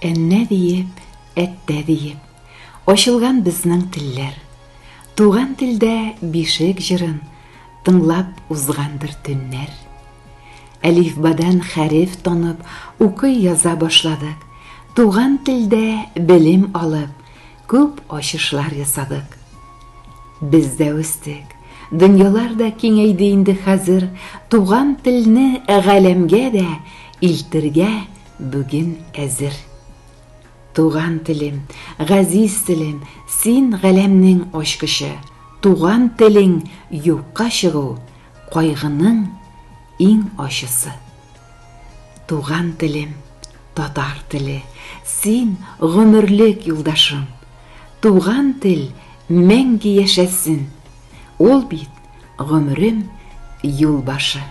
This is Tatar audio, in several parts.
Әннә диеп, әттә диеп, ачылган безнең телләр. Туган телдә бишек җырын, тыңлап узгандыр төннәр. Әлифбадан хәреф танып, укый-яза башладык. Туган телдә белем алып, күп ачышлар ясадык. Без дә үстек. Дөньялар да киңәйде инде хәзер, туган телне галәмгә дә илтергә бүген әзер. Туган телем, газиз телем, син галәмнең ачкычы, туган телең юкка чыгу, Кайгының иң ачысы. Туган телем, татар теле, син гомерлек юлдашым. Туган тел мәңге яшәсен, ул бит гомерем юл башы.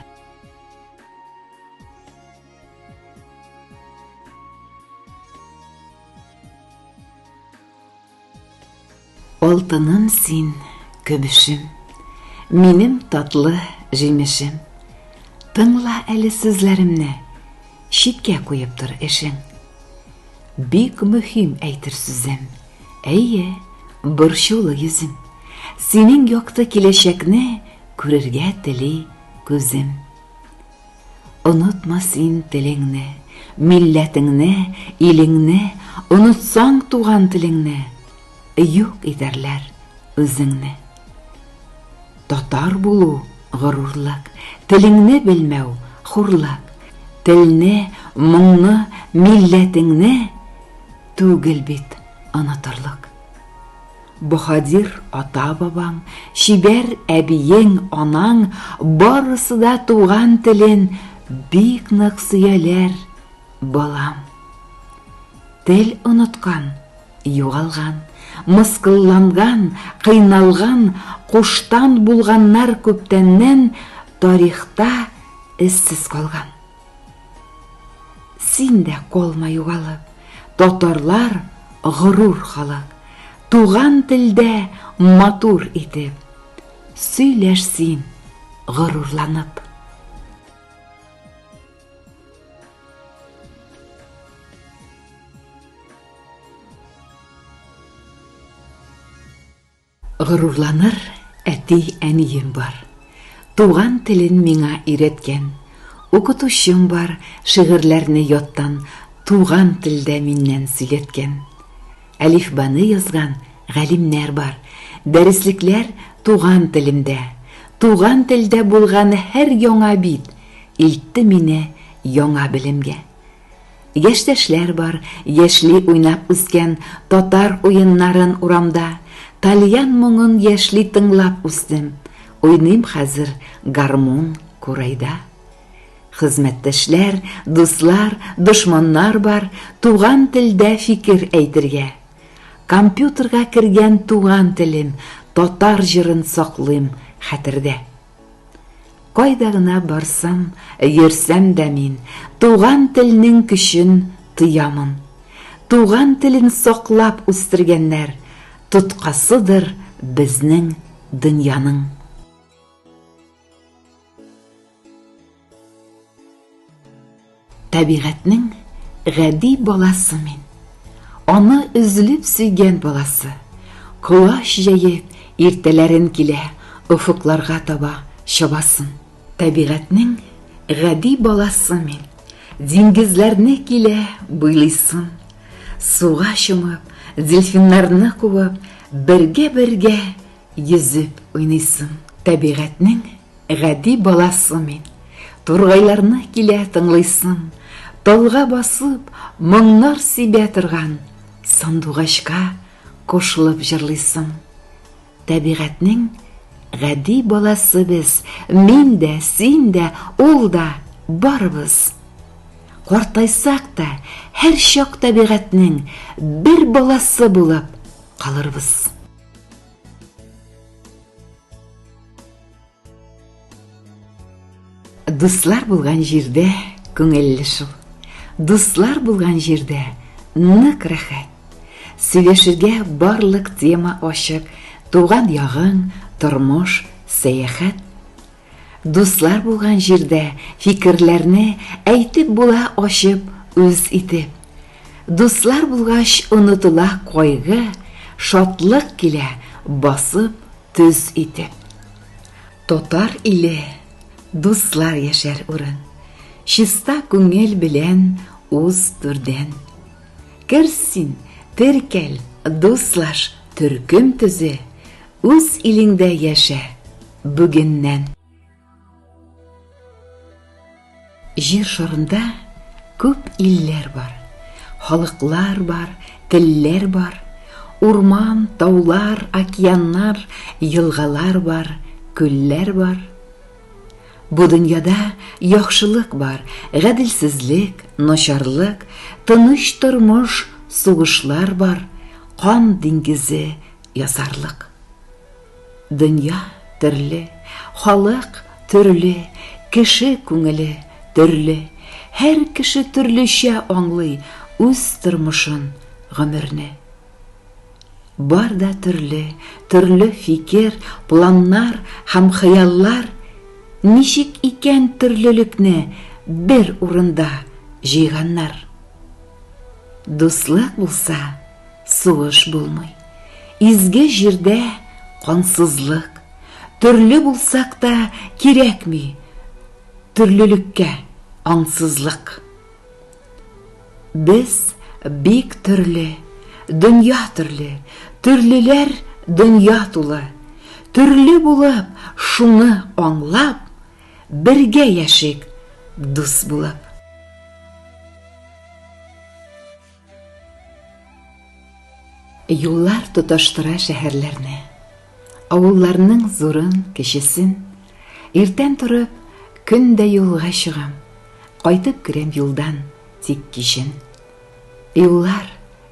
Алтыным син, көбешем, Минем татлы җимешем. Тыңла әле сүзләремне, Читкә куеп тор эшең. Бик мөһим әйтер сүзем, Әйе, борчулы йөзем. Синең якты киләчәкне Күрергә тели күзем. Онытма син телеңне, милләтеңне, илеңне, Онытсаң туган телеңне, юк итәрләр үзеңне. Татар булу, горурлык, телеңне белмәү, хурлык, Телне, моңны, милләтеңне түгел бит онытырлык. Баһадир ата-бабаң, чибәр әбиең, анаң, барысы да туган телен бик нык сөяләр, балам. Тел оныткан, югалган, мыскылланган, кыйналган, куштан булганнар күптәннән тарихта эзсез калган. Син дә колма югалып, татарлар горур халык, туган телдә матур итеп, сөйләш син горурланып. Горурланыр әти-әнием бар. Туган телен миңа өйрәткән. Укытучым бар, шигырьләрне яттан Туган телдә миннән сөйләткән. Әлифбаны язган галимнәр бар. Дәреслекләр туган телемдә. Туган телдә булган һәр яңа бит Илтте мине яңа белемгә. Яшьтәшләр бар, яшьли уйнап үскән, татар уеннарын урамда, тальян моңын яшьли тыңлап үстем. Уйныйм хәзер гармун, курайда. Хезмәттәшләр, дуслар, дошманнар бар, туган телдә фикер әйтергә. Компьютерга кергән туган телем, татар җырын саклыйм хәтердә. Кайда гына барсам, йөрсәм дә мин, туган телнең көчен тоямын. Туган телен саклап үстергәннәр, тоткасыдыр безнең дөньяның. Табигатьнең гади баласы мин. Аны өзлеп сөйгән баласы. Колач җәеп, иртәләрен килә, офыкларга таба чабасын. Табигатьнең гади баласы мин. Диңгезләрне килә буйлыйсын. Суга чумып, дельфиннарны куып, бергә-бергә йөзеп уйныйсын. Табигатьнең Гади баласы мин, тургайларны килә тыңлыйсым, талга басып, моңнар сибә торган сандугачка кушылып җырлыйсым. Табигатьнең гади баласы без, мин дә, син дә, ул да, барыбыз. Картайсак та, һәр чак табигатьнең бер баласы булып калырбыз. Дуслар булган җирдә күңелле шул. Дуслар булган җирдә нык рәхәт. Сөйләшергә барлык тема ачык, туган ягың, тормыш, сәяхәт. Дуслар булган җирдә фикерләрне әйтеп була ачып, үз итеп. Дуслар булгач онытыла кайгы, шатлык килә басып, Төз итеп. Татар иле, дуслар яшәр урын, Чиста күңел белән уз түрдән. Кер син, теркәл, дуслаш, төркем төзе, Үз илеңдә яшә бүгеннән. Җир шарында күп илләр бар, халыклар бар, телләр бар, урман, таулар, океаннар, елгалар бар, күлләр бар. Бу дөньяда яхшылык бар, гаделсезлек, начарлык, тыныч тормыш, сугышлар бар, кан диңгезе, язарлык. Дөнья төрле, халык төрле, кеше күңеле төрле, һәр кеше төрлечә аңлый үз тормышын, гомерне. Бар да төрле, төрле фикер, планнар һәм хыяллар, ничек икән төрлелекне бер урында җыйганнар? Дуслык булса, Сугыш булмый. Изге җирдә кансызлык. Төрле булсак та кирәкми төрлелеккә аңсызлык. Без бик төрле, дөнья төрле, төрлеләр дөнья тулы. Төрле булып, шуны аңлап, бергә яшик дус булып. Юллар тоташтыра шәһәрләрне, авылларның зурын, кечесен. Иртән торып, көн дә юлга чыгам, кайтып керәм юлдан, тик кичен. Юллар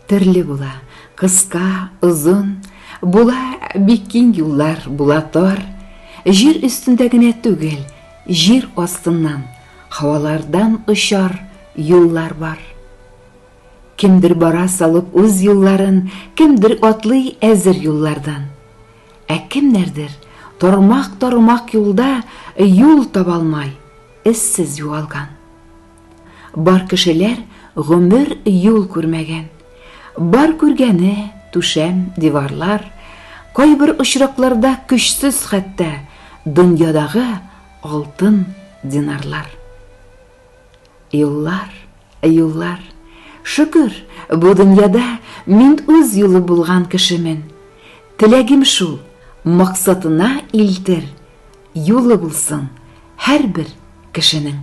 төрле була, кыска, озын, була бик киң юллар, була тар. Җир өстендә генә түгел, җир астыннан, һавалардан очар юллар бар. Кемдер бара салып үз юлларын, Кемдер атлый әзер юллардан. Ә кемнәрдер тармак-тармак юлда Юл таба алмай, эзсез югалган. Бар кешеләр гомер юл күрмәгән. Бар күргәне, түшәм, диварлар, Кайбер очракларда көчсез хәтта Дөньядагы алтын динарлар. Юллар, юллар. Шөкер, бу дөньяда мин үз юлы булган кешемен. Теләгем шул, максатына илтер, юлы булсын һәрбер кешенең.